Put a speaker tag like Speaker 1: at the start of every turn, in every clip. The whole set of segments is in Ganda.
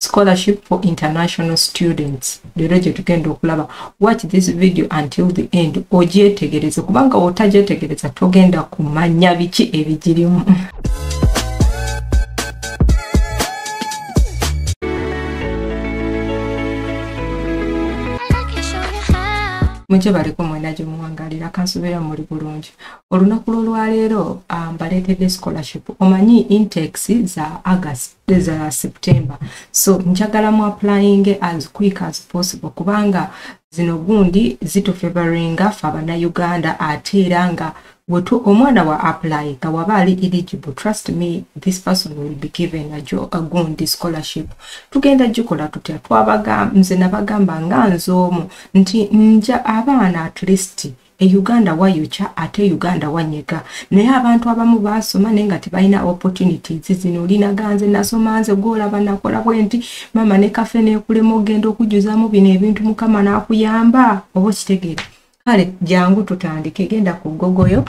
Speaker 1: scholarship for international students leero gyetugenda okulaba watch this video until the end ogyetegereze kubanga otagyetegereza togenda kumanya biki ebigirimu mujje baleko mwena gye muwangalira kansubeera muli bulungi olunaku lw'olwaleero ah, mbaleetedde scholarship omanyi intex za agast za september so njagala mu applying as quick as possible kubanga zino gundi zitufavoringa fe abanauganda ate era nga wetu omwana wa apply nga waba ali eligible trust me this person will be given a, jo, a gundi scholarship tugenda gikola tutya twabaga nze nabagamba nga nze omu nti nja abaana at least e uganda wayokya ate uganda wanyega naye abantu abamu basoma naye nga tebalina opportunities zino linaganze nasoma nze gwolaba nakola bwe nti mama ne kafe nekulema okugenda okujjuzamu bino ebintu mukama nakuyamba oba okitegeera kale jangu tutandike genda ku gogoyo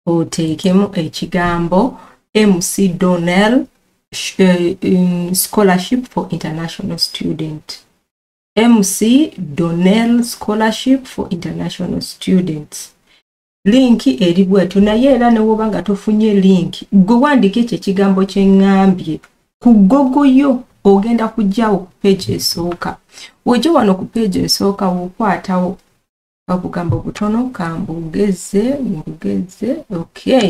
Speaker 1: oteekemu ekigambo mc donel eh, scholarship for international student mc donel scholarship for international students linki eri bwetyo naye era newoba nga tofunye linki gwe wandika ekyo ekigambo kyeŋambye ku gogo yo ogenda kujjawo ku peegi esooka wojja wano ku peegi esooka wokwatawo obugambo butono kambugeze mbugeze okay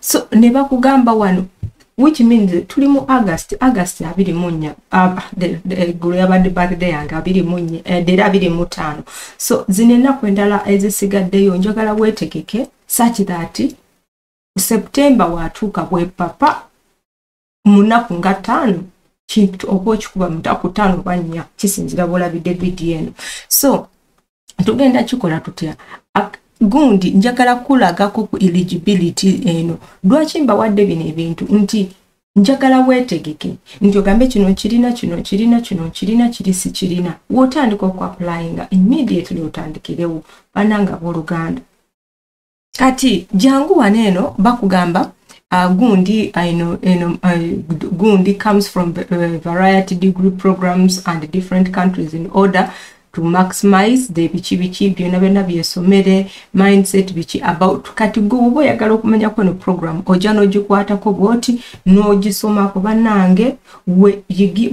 Speaker 1: so ne bakugamba wano which means tuli mu august august abiri mu nnya eggulo ah, yabadde birthday yange abiri mu nnya eh, dera abiri mu ttaano so zino ennaku endala ezisigaddeyo njagala weetegeke such that september watuuka bwepapa munaku nga taano kintu oba okikuba munaku taano oba nnya kisinzira bwolabidde bidi eno so tugenda kikola tutya gundi njagala kulagako ku eligibility eno lwaki mbawadde bino ebintu nti njagala wetegeke nti ogambe kino kirina kino kirina kino kirina kiri sikirina wotandika okuapulayinga immediately otandikirewo bananga boluganda kati jangu wano eno bakugamba uh, gundi uh, eno, eno, uh, gundi comes from uh, variety degree programs and different countries in order to maximize the biki biki byona byona byesomere mindset biki about kati gwe oba oyagala okumanya kweno program ojja n'ogikwatako bwoti n'ogisomako bannange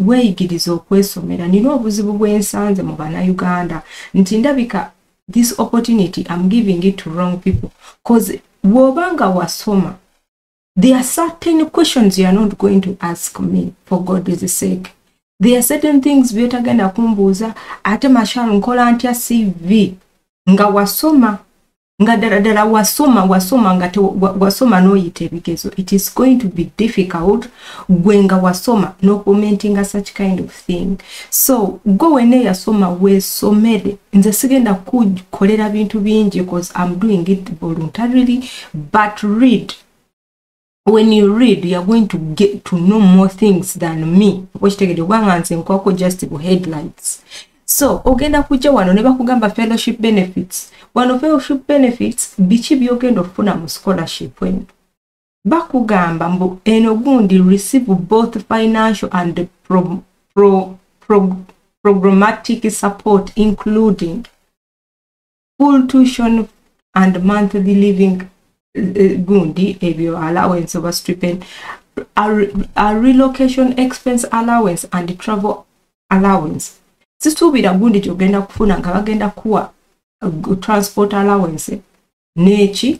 Speaker 1: weeyigiriza okwesomera nina obuzibu bwensanze mu bannayuganda nti ndabika this opportunity am giving it to wrong people cause bwoba nga wasoma there are certain questions you are not going to ask me for god is sake there are certain things byotagenda kumbuuza ate mashal nkola ntya cv nga wasoma nga ddala ddala wasoma wasoma nga wasoma n'oyita ebigezo it is going to be difficult gwe nga wasoma n'okumentinga such kind of thing so go wena eyasoma wesomere nze sigenda kukolera bintu bingi bcause im doing it voluntarily but read when you read youare going to get to know more things than me okitegede kubanga nze nkwako just bu headlines so ogenda kujja wano ne bakugamba fellowship benefits wano fellowship benefits biki byogenda okufuna mu scholarship eno bakugamba mbu eno gundi receive both financial and pro, pro, pro, programmatic support including full tuition and monthly living eh, gundi ebyo allowance oba stipend a, a relocation expense allowance and travel allowance sisuubira gundi kyogenda kufuna nga bagenda kuwa uh, transport allowance neki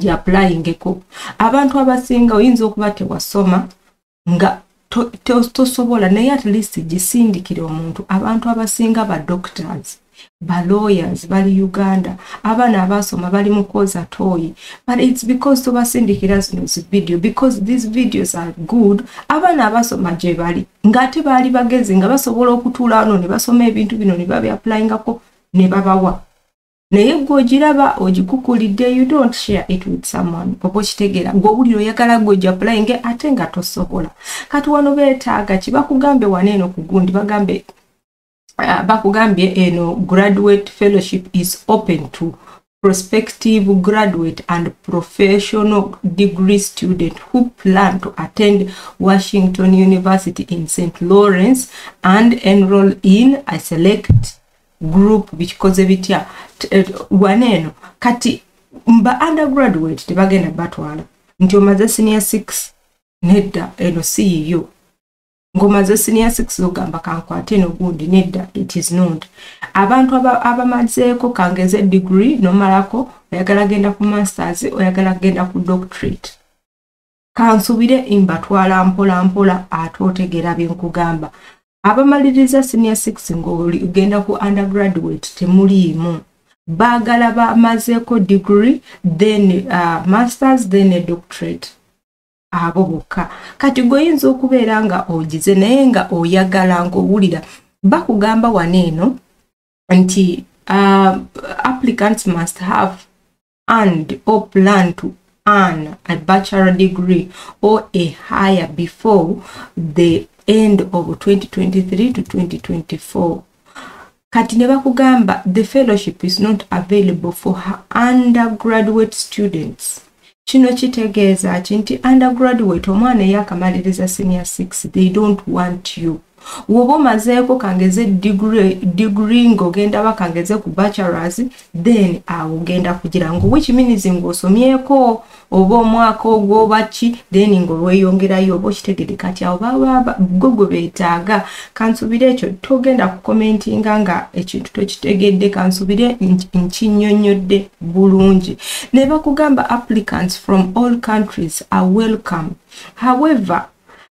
Speaker 1: gyapulayingeko abantu abasinga oyinza okuba tewasoma nga tosobola to, to naye at least gisindikire omuntu abantu abasinga ba doctors ba lawyers bali uganda abaana abasoma bali mukoza toyi but its because tobasindikira zino zi video because these videos are good abaana abasoma gye bali ngaate baali bagezi nga basobola okutuula ano ne basoma ebintu bino ne babyapulayingako ne babawa naye gwe ogiraba ogikukulidde you don't share it with someone oba okitegeera gweowulira oyagala gwe ojapulayinge ate nga tosobola kati wano beetaaga ki bakugambe wana eno ku gundi bagambe ah, bakugambye eno graduate fellowship is open to prospective graduate and professional degree student who plan to attend washington university in st lawrence and enroll in i select group bikikoze bitya eh, wana eno kati mba undergraduate tebagenda batwala nti omaze senior six nedda eno si yiyo ng'omaze senior six ogamba kankwate eno gundi nedda it is not abantu abamazeeko aba kangeze degree nomalako oyagala genda ku masters oyagala genda ku doctorate kansubire mbatwala mpola mpola ate otegeera bye nkugamba abamaliriza senior six ng'ogenda ku undergraduate temuliimu baagala bamazeeko degree then uh, masters then a doctorate abo bokka kati gweoyinza okubeera nga ogize naye nga oyagala ng'owulira bakugamba wano eno nti uh, applicants must have and or plan to earn a bachelor degree or a higher before the end of 2023 to 2024 kati ne bakugamba the fellowship is not available for her undergraduate students kino kitegeeza ki nti undergraduate omwana eyakamaliriza senior 6 they don't want you woba omazeeko kangeze digri ngaogenda ba kangeze ku bachelors then awo ogenda kugira ngo which means ngaosomyeko oba omwaka ogwoba ki then ngaolweyongerayo oba okitegede kati awo baba gwe gwe betaaga kansubire ekyo togenda kukomentinga nga ekintu tokitegedde kansubire nkinyonyodde bulungi ne bakugamba applicants from all countries are welcome however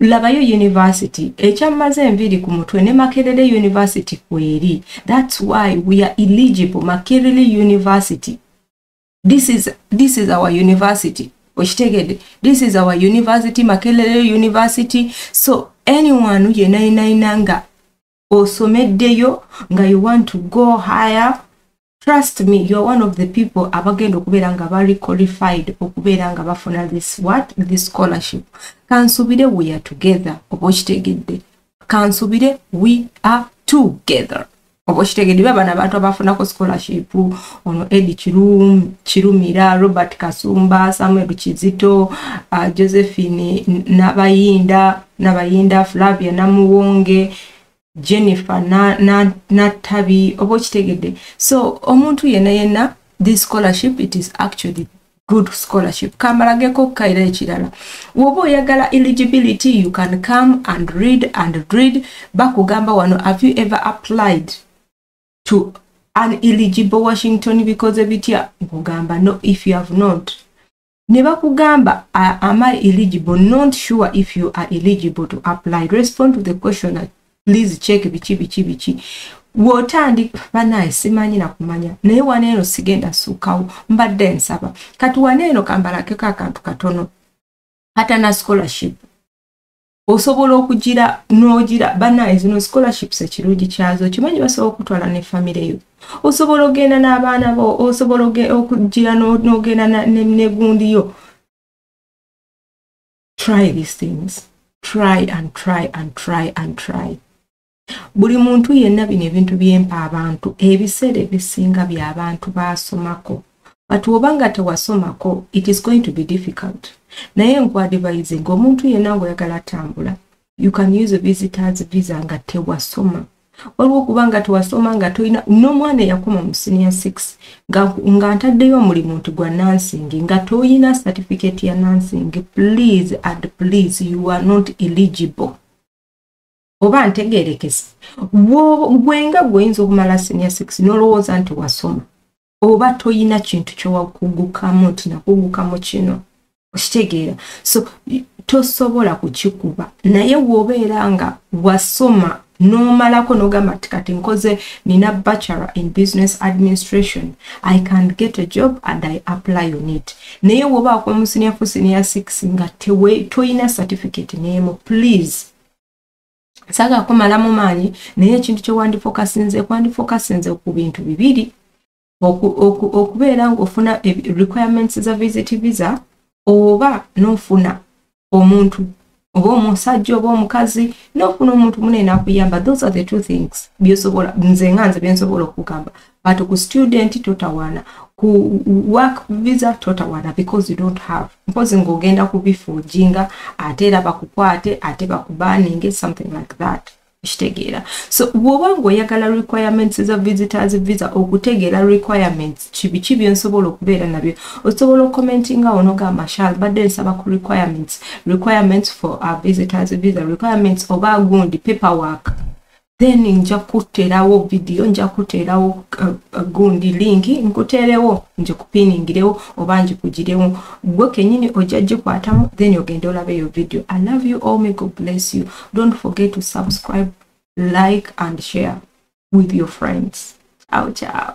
Speaker 1: labayo university ekyamaze enviiri ku mutwe ne makerere university kweri thats why we are eligible makerere university this is, this is our university okitegede this is our university makerere university so anyone yenayinayina nga osomeddeyo nga you want to go higher trust me you're one of the people abagenda okubeera nga bari qualified okubeera nga bafuna this what this scholarship kansubire we are together oba okitegedde kansubire we are together oba okitegedde ba bana abantu abafunako scholarship ono edi kirum kirumira robert kasumba samuel kizito uh, josephine nabayinda nabayinda flavia namuwonge jennifer natabi na, na oba okitegedde so omuntu yena yena this scholarship it is actually good scholarship kamalageko okukaira ekirala woba oyagala eligibility you can come and read and read bakugamba wano have you ever applied to an eligible washington because ebitya nkugamba no if you have not ne bakugamba am i eligible not sure if you are eligible to apply respond to the question please check biki biki biki wotandika banaye simanyi nakumanya naye waneeno sigenda suukawo mbadde nsaba kati waneeno kambalakeko akantu katono atana scholarship osobola okugira n'ogira banaye zino scholarships ekirungi kyazo kimanyi basobola okutwala ne famire yo osobola ogenda n'abaana bo osobola okugira n'ogenda negundi yo try these things try and try and try and try buli muntu yenna bino ebintu byempa abantu ebiseera ebisinga byabantu baasomako but oba nga tewasomako it is going to be difficult naye nkwadivise nga omuntu yenna ngaoyagala atambula you can use a visitors visa nga tewasoma waliwo okuba nga tewasoma nga tolina n'omwana eyakoma mu senior six nga ntaddeyo omulimu nti gwa nansing nga tolina certificate ya nansing please and please you are not eligible oba ntegerekese gwenga gweoyinza okumala senior six nolowooza nti wasoma oba toyina kintu kyowakugukamu nti nakugukamu kino okitegeera so tosobola kukikuba naye wobeera nga wasoma nomalako nogamba ti kati nkoze nina bachelor in business administration i can get a job and i apply on it naye wobaako omusiniafu senior six nga toyina certificate nemu please saga kumala mu maanyi naye ekintu kyewandifokasinze kwandifokasinze ku bintu bibiri okubeera ngaofuna requirements za visit visa oba nofuna omuntu oba omusajja oba omukazi nofuna omuntu munene akuyamba those are the two things byosobola nze nga nze byensobola okugamba but ku student totawana ku work visa totawana because you don't have mpozi ng'ogenda kubifuujinga ate era bakukwate ate bakubaninge something like that kitegeera so bwoba ngaoyagala requirements za visitors visa okutegeera requirements kibiki byensobola okubeera nabyo osobola okomentinga onogamba shal badde nsaba ku requirements requirements for our visitors visa requirements oba gundi paperwork then nja kuteerawo vidiyo nja kuteerawo uh, uh, gundi linki nkuteerewo nje kupiningirewo oba njikugirewo gwe kenyini ojja gikwatamu then ogende olaba eyo vidiyo i love you all may god bless you don't forget to subscribe like and share with your friends ciao ciao